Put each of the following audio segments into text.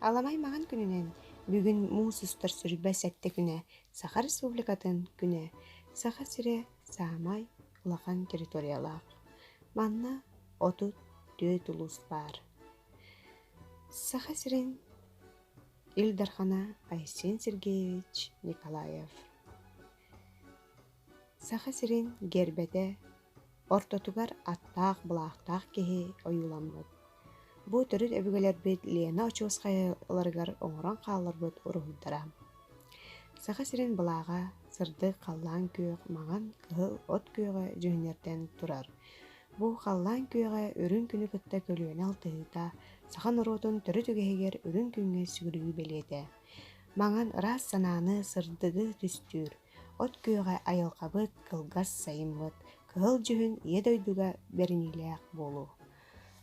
Аламай маҥан күнүнэн бүгүн муус устар сырба сэттэ күнэ Саха Республикатын күнэ Саха сирэ саамай улахан территориялаах. Манна отут түөрт улуус баар. Саха сирин Ил Дархана Айсен Сергеевич Николаев Саха сирин гербэтэ ортотугар аттаах былаахтаах киһи ойууламмыт. Бу төрүт өбүгэлэрбит Лена очуоскайа ыларыгар оҥорон хаалларбыт уруһуйдара. Саха сирин былааҕа сырдык халлаан күөх маҥан кыһыл от күөҕэ дьүһүннэртэн турар. Бу халлаан күөҕэ үрүҥ күнү кытта көлүөнэ алтыһыыта саха норуотун төрүт үгэһигэр үрүҥ күҥҥэ сүгүрүйүү бэлиэтэ. Маҥан ыраас санааны, сырдыгы түстүүр. От күөҕэ айылҕабыт, кылгас сайыммыт, кыһыл дьүһүн ийэ дойдуга бэриниилээх буолуу.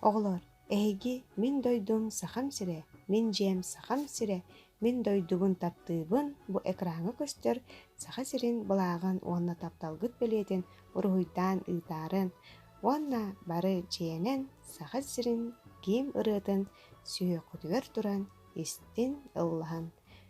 Оҕолор, эһиги мин дойдум Сахам сирэ, мин дьиэм Сахам сирэ, мин дойдубун таптыыбын бу экраҥҥа көстөр Саха сирин былааҕын уонна тапталгыт бэлиэтин уруһуйдаан ыытаарын уонна бары дьиэнэн Саха сирин киин ырыатын сүһүөххүтүгэр туран истин, ыллаһан